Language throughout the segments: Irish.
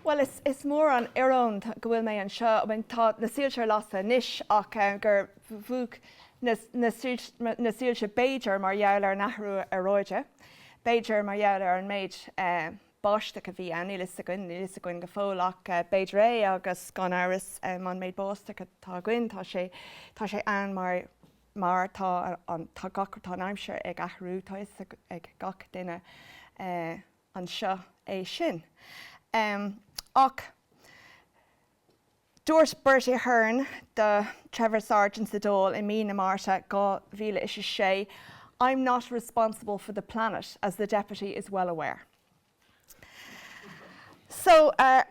Bhuel, is mór an ioróin go bhfuil mé anseo, tá na soilse ar lasadh anois, ach gur mhúch na soilse b'fhéidir mar gheall ar an athrú aeráide, b'fhéidir mar gheall ar an méid báisteach a bhí ann, níl a fhios againn, níl a fhios againn go fóill, ach b'fhéidir é agus gan amhras an méid báisteach atá againn, tá sé ann mar. mar tá an aimsir ag athrú, tá 'fhios ag gach duine anseo é sin. Ach dúirt Bertie Ahern le Trevor Sargent sa Dáil i mí na Márta 2006, I'm not responsible for the Planet, as the Deputy is well aware. So, uh,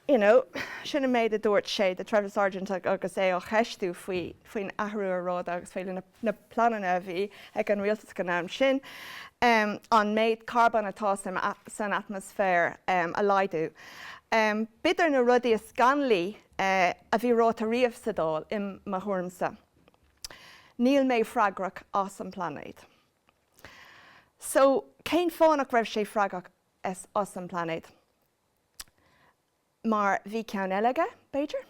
you know, sin an méid a dúirt sé do Trevor Sargent agus é á cheistiú faoi, faoin athrú aeráide agus faoi na pleananna a bhí ag an rialtas ag an am sin, um, an méid carbóin atá san, san atmaisféar, um, a laghdú. Um, b'fhéidir na rudaí is scannalaí, uh, a bhí ráite riamh sa Dáil, i mo thuairimse. Níl mé freagrach as an bpláinéad. So, cén fáth nach raibh sé freagrach as an bpláinéad? Mar bhí ceann eile aige, b'fhéidir?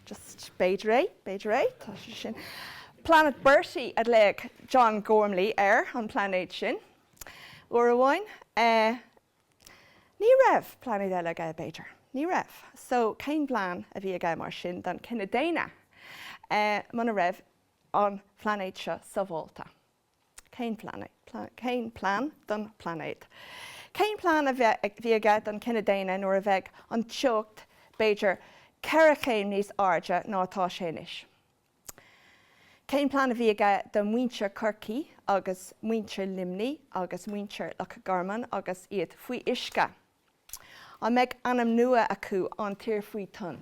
Just, b'fhéidir é, b'fhéidir é, tá sé sin. Planet Bertie a ghlaoigh John Gormley air, an pláinéad sin, uair amháin. Ní raibh pláinéad eile aige, b'fhéidir? Ní raibh. So, cén plean a bhí aige, mar sin, don chine daonna, muna raibh an pláinéad seo sábháilte? Cén plean don phláinéad? Cén plean a bhí aige don chine daonna nuair a bheidh an teocht b'fhéidir ceithre chéim níos airde ná atá sé anois? Cén plean a bhí aige do mhuintir Chorcaí agus muintir Luimní agus muintir Loch Garman agus iad faoi uisce? An mbeidh ainm nua acu, An Tír Faoi Thoinn?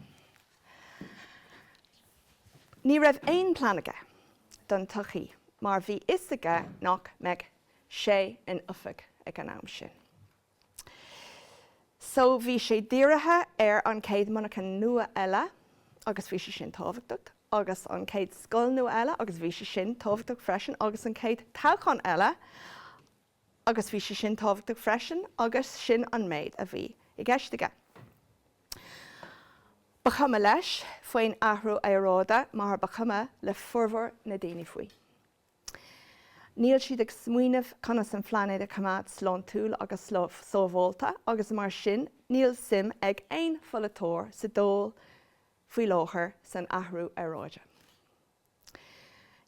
Ní raibh aon plean aige don tsochaí mar bhí fhios aige nach mbeadh sé in oifig ag an am sin. So bhí sé dírithe ar an chéad monarcha nua eile agus bhí sé sin tábhachtach agus an chéad scoil nua eile agus bhí sé sin tábhachtach freisin agus an chéad toghchán eile agus bhí sé sin tábhachtach freisin agus sin an méid a bhí i gceist aige. Ba chuma leis faoin athrú aeráide mar ba chuma le formhór na daoine faoi. Níl siad ag smaoineamh conas an pláinéad a choimeád sláintiúil agus sábháilte agus mar sin níl suim ag aon pholaiteoir sa Dáil faoi láthair san athrú aeráide.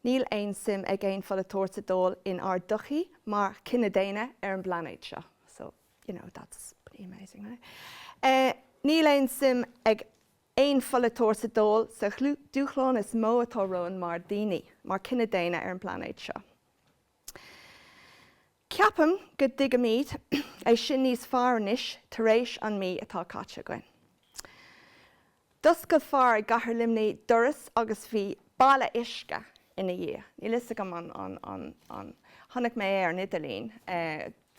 Níl aon suim ag aon pholaiteoir sa Dáil inár dtodhchaí mar chine daonna ar an bplainéad seo. So, you know, that's pretty amazing, right? Níl aon suim ag aon pholaiteoir sa Dáil sa dúshlán is mó atá romhainn mar dhaoine, mar chine daonna ar an bplainéad seo. Ceapaim go dtuigimid é sin níos fearr anois tar éis an mí atá caite againn. D'oscail fear i gcathair Luimnigh doras agus bhí balla uisce ina dhiaidh. Níl fhios agam an, an, chonaic mé é ar an idirlíon,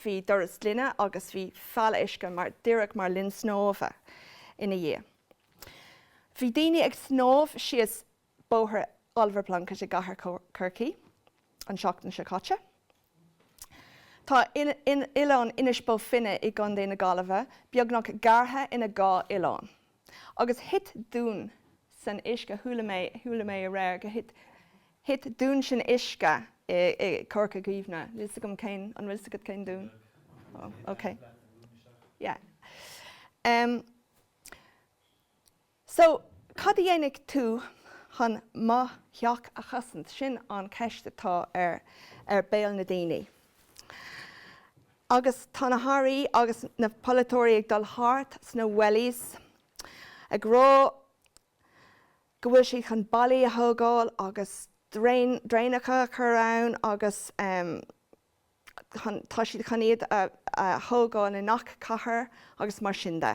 bhí doras gloine agus bhí balla uisce mar, díreach mar linn snámha ina dhiaidh. Bhí daoine ag snámh síos Bóthar Oliver Plunkett i gcathair Chorcaí an tseachtain seo caite. Tá oileán Inis Bó Finne i gContae na Gaillimhe beagnach gearrtha ina dhá oileán. Agus thit dún san uisce, chuala mé, chuala mé aréir go thit, thit dún san uisce i gCorca Dhuibhne. Níl 's agam cén, an bhfuil 's agat cén dún? Ó, ok. Yeah. So, cad a dhéanfaidh tú chun mo theach a chosaint? Sin an cheist atá ar béal na ndaoine. Agus tá na hairí agus na polaiteoirí ag dul thart sna wellies ag rá go bhfuil siad chun ballaí a thógáil agus draenacha a chur ann agus. tá siad chun iad a thógáil i ngach cathair agus mar sin de.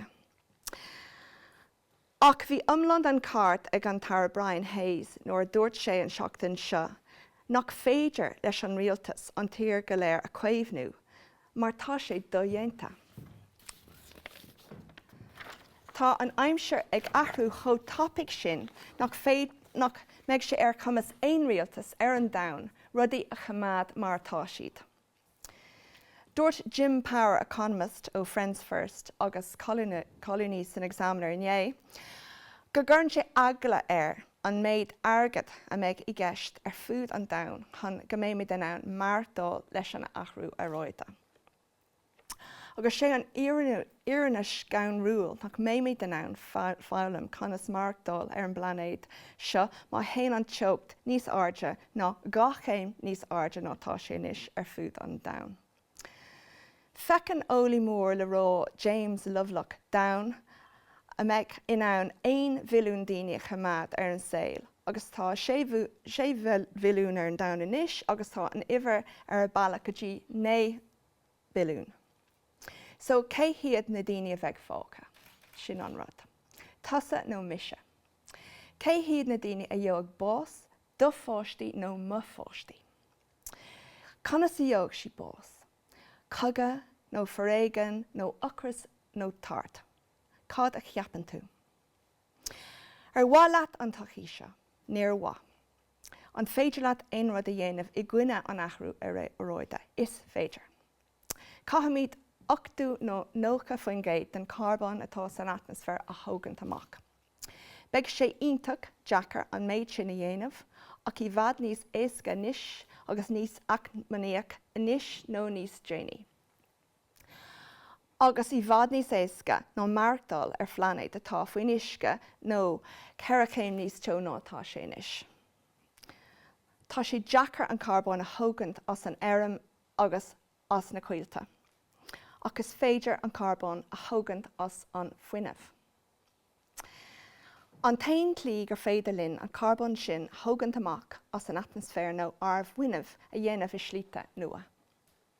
Ach bhí iomlán den cheart ag an Aire Brian Hayes nuair a dúirt sé an tseachtain seo nach féidir leis an rialtas an tír go léir a chaomhnú mar tá sé dodhéanta. Tá an aimsir ag athrú chomh tapaidh sin nach féidir, nach mbeidh sé ar chumas aon rialtas ar an domhan rudaí a choimeád mar atá siad. Dúirt Jim Power, economist ó Friends First agus colúnaí san Examiner inné go gcuireann sé eagla air an méid airgead a mbeidh i gceist ar fud an domhain chun go mbeimid in ann maireachtáil leis an athrú aeráide. Agus sé an fhírinne scanrúil nach mbeimid in ann foghlaim conas maireachtáil ar an bplainéad seo má théann an teocht níos airde ná dhá chéim níos airde ná tá sé anois ar fud an domhain. Feiceann eolaí mór le rá James Lovelock domhan a mbeidh in ann aon bhilliún daoine a choimeád ar an saol. agus tá sé bhilliún ar an domhan anois agus tá an uimhir ar a bealach go dtí naoi mbilliún. So cé hiad na daoine a bheidh fágtha? Sin an rud. Tusa nó mise. Cé hiad na daoine a gheobhadh bás, do pháistí nó mo pháistí? Conas a gheobhadh siad bás? Cogadh nó foréigean nó ocras nó tart? Cad a cheapann tú? Ar mhaith leat an todhchaí seo? Níor mhaith. An féidir leat aon rud a dhéanamh i gcoinne an athrú aeráide? Is féidir. Caithfimid ochtó nó nócha faoin gcéad den charbón atá san atmaisféar a thógaint amach. Beidh sé iontach deacair an méid sin a dhéanamh, ach i bhfad níos éasca anois agus níos eacnamaíoch anois nó níos déanaí. agus i bhfad níos éasca ná maireachtáil ar phlainéad atá faoin uisce nó ceithre chéim níos teo ná atá sé anois. Tá sé deacair an carbón a thógaint as an fheirm agus as na coillte, ach is féidir an carbón a thógaint as an fuinneamh. An t-aon slí gur féidir linn an carbón sin a thógaint amach as an atmaisféar ná ár bhfuinneamh a dhéanamh i slíte nua,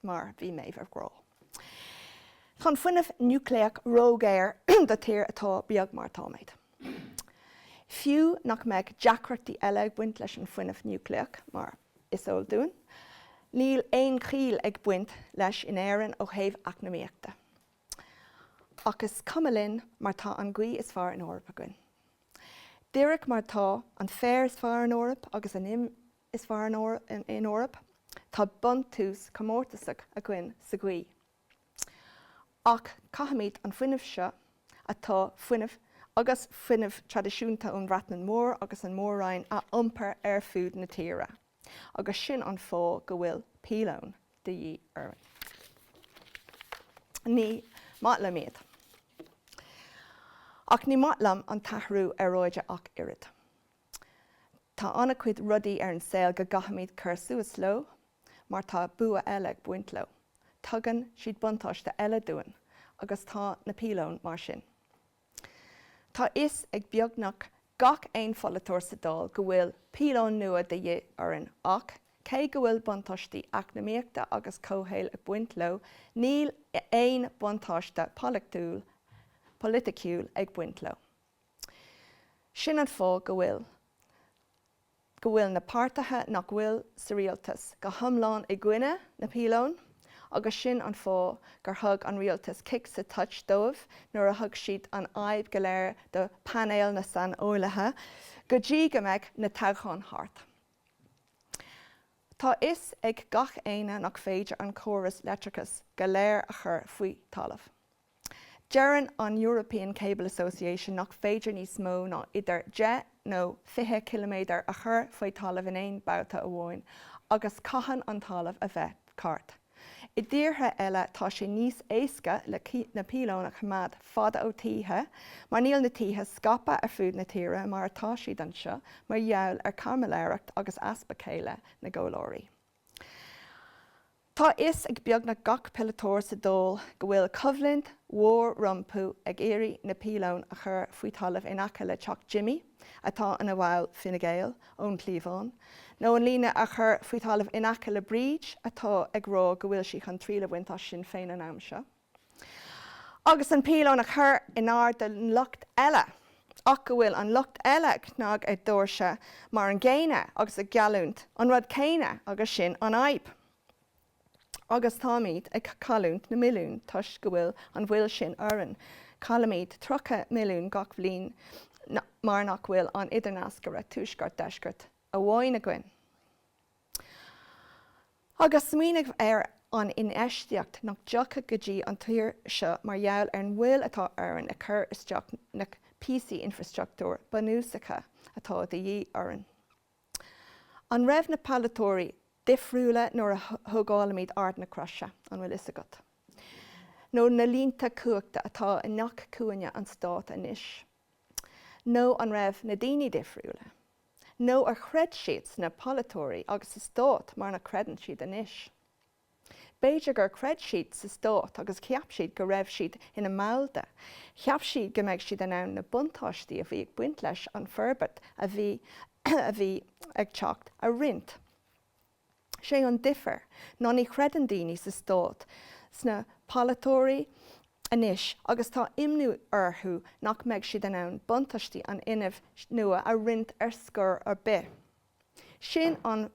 mar bhí mé á rá, tá an fuinneamh núicléach ródhaor do tír atá beag mar atáimid, fiú nach mbeadh deacrachtaí eile ag baint leis an fuinneamh núicléach, mar is eol dúinn, níl aon chiall ag baint leis in Éirinn ó thaobh eacnamaíochta. Ach is cuma linn mar tá an ghaoth is fearr in Eoraip againn. Díreach mar atá an féar is fearr in Eoraip agus an im is fearr in Eoraip, tá buntáiste comórtasach againn sa ghaoth. Ach caithfimid an fuinneamh seo, atá fuinneamh agus fuinneamh traidisiúnta ón Bhreatain Mhór agus an Mór-Roinn, a iompar ar fud na tíre. Agus sin an fáth go bhfuil píolóin de dhíth orainn. Ní maith liom iad. Ach ní maith liom an t-athrú aeráide ach oiread. Tá an-chuid rudaí ar an saol go gcaithfimid cur suas leo mar tá bua eile ag baint leo. Tugann siad buntáiste eile dúinn agus tá na píolóin mar sin. Tá fhios ag beagnach gach aon pholaiteoir sa Dáil go bhfuil píolóin nua de dhíth orainn ach, cé go bhfuil buntáistí eacnamaíochta agus comhshaoil ag baint leo, níl aon bhuntáiste polaiticiúil ag baint leo. Sin an fáth go bhfuil. go bhfuil na páirtithe nach bhfuil sa rialtas go hiomlán i gcoinne na bpíolón agus sin an fáth gur thug an rialtas cic sa toit dóibh nuair a thug siad an fhadhb go léir do phainéal na saineolaithe go dtí go mbeadh na toghcháin thart. Tá fhios ag gach éinne nach féidir an córas leictreachais go léir a chur faoi thalamh. Deireann an European Cable Association nach féidir níos mó ná idir deich nó fiche ciliméadar a chur faoi thalamh in aon babhta amháin, agus caitheann an talamh a bheith ceart. I dtíortha eile tá sé níos éasca le na píolóin a choimeád fada ó thithe, mar níl na tithe scaipthe ar fud na tíre mar atá siad anseo mar gheall ar chaimiléireacht agus easpa céille na gcomhairleoirí. Tá a fhios ag beagnach gach polaiteoir sa Dáil go bhfuil coimhlint mhór rompu ag iarraidh na piolóin a chur faoi thalamh in aice le teach Jimmy, atá ina bhall Fine Gael, ón chliabhán, nó an líne a chur faoi thalamh in aice le Bríd, atá ag rá go bhfuil sí chun triail a bhaint as Sinn Féin an am seo. agus an píolón a chur in airde don lucht eile, ach go bhfuil an lucht eile ag cnag ar dhoirse mar an gcéanna agus ag geallúint an rud céanna agus sin an fhadhb. Agus táimid ag cailliúint na milliún toisc go bhfuil an mhoill sin orainn, caillimid 30 milliún gach bliain mar nach bhfuil an idirnascaire tuaisceart-deisceart amháin againn. Agus smaoinigh ar an infheistíocht nach dtiocfadh go dtí an tír seo mar gheall ar an mhoill atá orainn le cur isteach na bpíosaí infreastruchtúir bunúsacha atá de dhíth orainn. An raibh na polaiteoirí difriúil nuair a thógáilimid Ard na Croise, an bhfuil fhios agat? Nó na línte cumhachta atá i ngach cúinne an stáit anois? Nó an raibh na daoine difriúil? nó ar chreid siad sna polaiteoirí agus sa stát mar nach gcreideann siad anois? B'fhéidir gur chreid siad sa stát agus cheap siad go raibh siad ina mball de, cheap siad go mbeadh siad in ann na buntáistí a bhí ag baint leis an bhforbairt a bhí a bhí ag teacht a roinnt. Sé an difear ná ní chreideann daoine sa stát sna polaiteoirí anois agus tá imní orthu nach mbeidh siad in ann buntáistí an fhuinnimh nua a roinnt ar scor ar bith. Sin an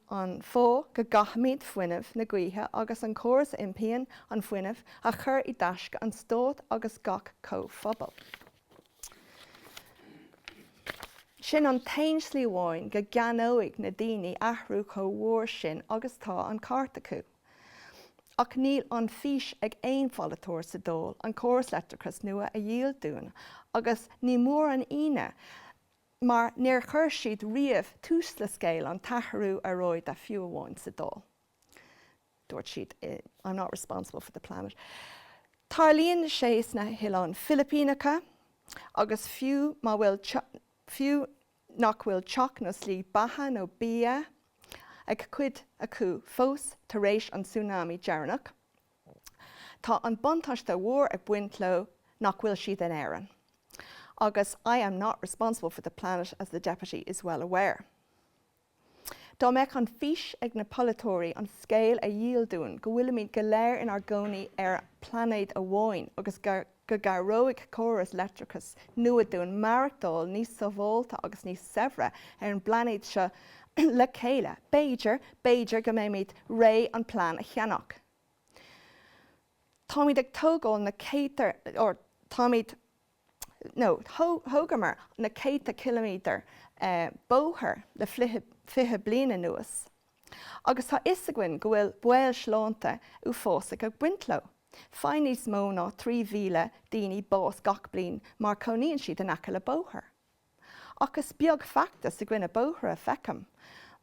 fáth go gcaithfimid fuinneamh na gaoithe agus an córas a iompraíonn an fuinneamh a chur i dtaisce an stáit agus gach comhphobail. Sin an t-aon slí amháin go gceannóidh na daoine athrú chomh mhór sin agus tá an ceart acu. Ach níl an fhís ag aon pholaiteoir sa Dáil an córas leictreachais nua a dhíol dúinn agus ní mór an ionadh mar níor chuir siad riamh tús le scéal an t-athrú aeráide fiú amháin sa Dáil. Dúirt siad, I'm not responsible for the planet. Tarlaíonn sé sna hOileáin Philipíneacha agus fiú má bhfuil, fiú nach bhfuil teach nó slí beatha nó bia ag cuid acu fós tar éis an tsunami deireanach, tá an buntáiste mhór ag baint leo nach bhfuil siad in Éirinn. Agus I am not responsible for the planet, as the Deputy is well aware. Dá mbeadh an fhís ag na polaiteoirí an scéal a dhíol dúinn go bhfuilimid go léir inár gcónaí ar phlainéad amháin agus go gcabhróidh córas leictreachais nua dúinn maireachtáil níos sábháilte agus níos saibhre ar an bplainéad seo le chéile, b'fhéidir, b'fhéidir go mbeimid réidh an plean a cheannach. Táimid ag tógáil na céadta, ár, táimid. nó thógamar na céadta ciliméadar bóthair le fiche bliain anuas agus tá 'fhios againn go bhfuil baol sláinte uafásach ag baint leo. Faigheann níos mó ná 3,000 daoine bás gach bliain mar cónaíonn siad in aice le bóthar. Ach is beag feachtas i gcoinne bóithre a feicim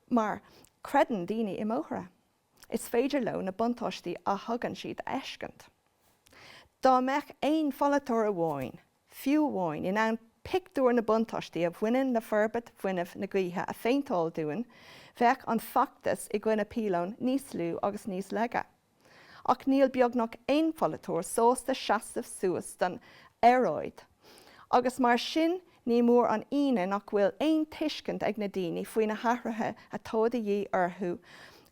mar creideann daoine i mbóithre. is féidir leo na buntáistí a thugann siad a fheiscint. Dá mbeadh aon pholaiteoir amháin, fiú amháin, in ann pictiúr na buntáistí a bhaineann le forbairt fuinnimh na gaoithe a phéinteáil dúinn, bheadh an feachtas i gcoinne piolón níos lú agus níos laige. Ach níl beagnach aon pholaiteoir sásta seasamh suas don aeráid, agus mar sin, Ní mór an ionadh nach bhfuil aon tuiscint ag na ndaoine faoi na hathruithe atá de dhíth orthu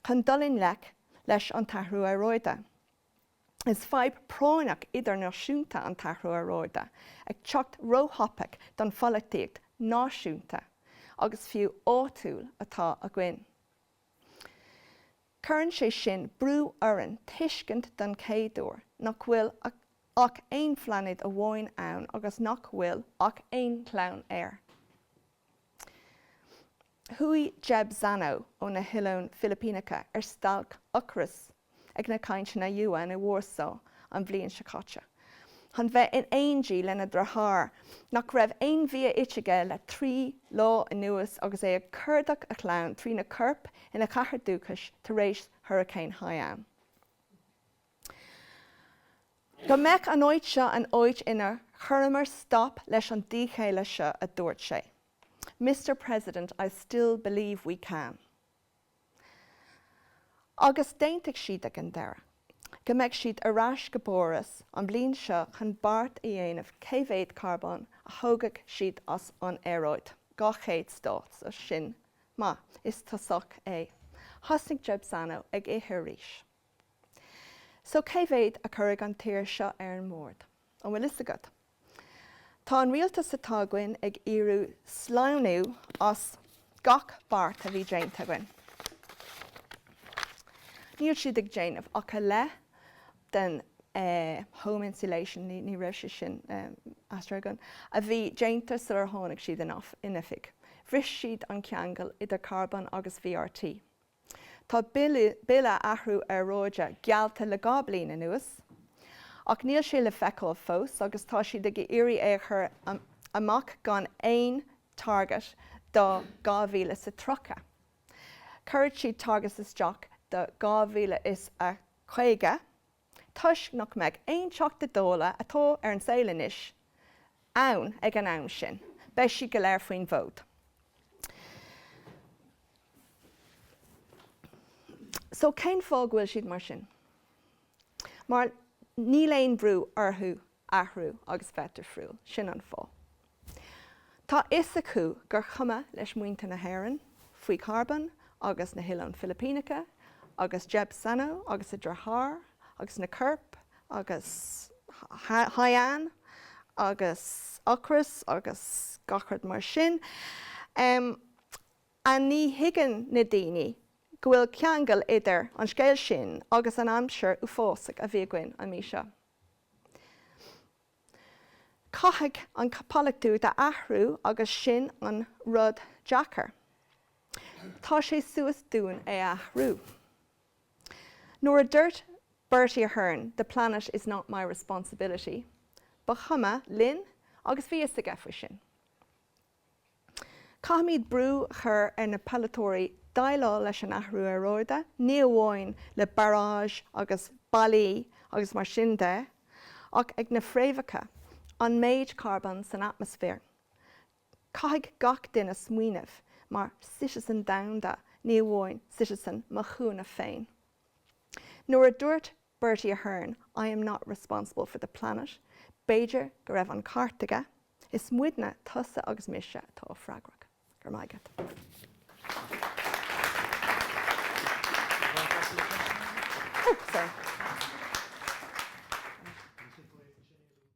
chun dul i ngleic leis an t-athrú aeráide. Is fadhb práinneach idirnáisiúnta an t-athrú aeráide, ag teacht róthapaidh don pholaitíocht náisiúnta, agus fiú áitiúil, atá againn. Cuireann sé sin brú orainn tuiscint don chéad uair nach bhfuil ach aon phlainéad amháin ann agus nach bhfuil ach aon chlann air. Chuaigh Yeb Saño ó na hOileáin Philipíneacha ar stailc ocrais ag na cainteanna UN i Warsaw an bhliain seo caite chun a bheith in éindí lena dhriotháir nach raibh aon bhia ite aige le trí lá anuas agus é ag cuardach a chlann trína corp ina chathair dúchais tar éis Hurricane Haiyan. Go mbeadh an áit seo an áit inar chuireamar stop leis an díchéille seo, a dúirt sé, Mister President, I still believe we can. Agus d'aontaigh siad ag an deireadh go mbeidh siad ar ais go bPáras an bhliain seo chun beart a dhéanamh cé mhéad carbón a thógfaidh siad as an aeráid. 200 stát, so sin maith is tosach é. Thosnaigh Yeb Sano ag ithe arís. So cé mhéad a chuirfidh an tír seo ar an mbord? An bhfuil fhios agat? Tá an rialtas atá againn ag iarraidh sleamhnú as gach beart a bhí déanta againn. Níl siad ag déanamh ach a leath den home insulation, ní raibh sé sin ard go leor, a bhí déanta sular tháinig siad in oifig. Bhris siad an ceangal idir carbón agus VRT. Tá bille athrú aeráide geallta le dhá bliain anuas ach níl sé le feiceáil fós agus tá siad ag iarraidh é a chur amach gan aon target do 2030. Cuirfidh siad targets isteach do 2050. toisc nach mbeadh aon Teachta Dála, atá ar an saol anois, ann ag an am sin. Beidh siad go léir faoin bhfód. So cén fáth go bhfuil siad mar sin? Mar níl aon bhrú orthu athrú agus bheith difriúil, sin an fáth. Tá fhios acu gur chuma leis muintir na hÉireann faoi charbón agus na hOileáin Fhilipíneacha agus Yeb Sano agus a dhriotháir agus na coirp agus Haiyan agus ocras agus gach rud mar sin. N, Ní thuigeann na daoine go bhfuil ceangal idir an scéal sin agus an aimsir uafásach a bhí againn an mhí seo. Caithfidh an caipitleachas a athrú agus sin an rud deacair. Tá sé suas dúinn é a athrú. Nuair a duirt Bertie Ahern the planet is not my responsibility, ba chuma linn agus bhí fhios aige faoi sin. Caithfimid brú a chur ar na polaiteoirí déileáil leis an athrú aeráide ní amháin le baráistí agus ballaí agus mar sin de ach ag na fréamhacha, an méid carbón san atmaisféar. Caithfidh gach duine smaoineamh mar citizen domhanda ní amháin citizen mo chúinne féin. Nuair a dúirt Bertie Ahern, I am not responsible for the Planet, b'fhéidir go raibh an ceart aige, is muidne, tusa agus mise, atá freagrach. Go raibh maith agat. Oh, sorry.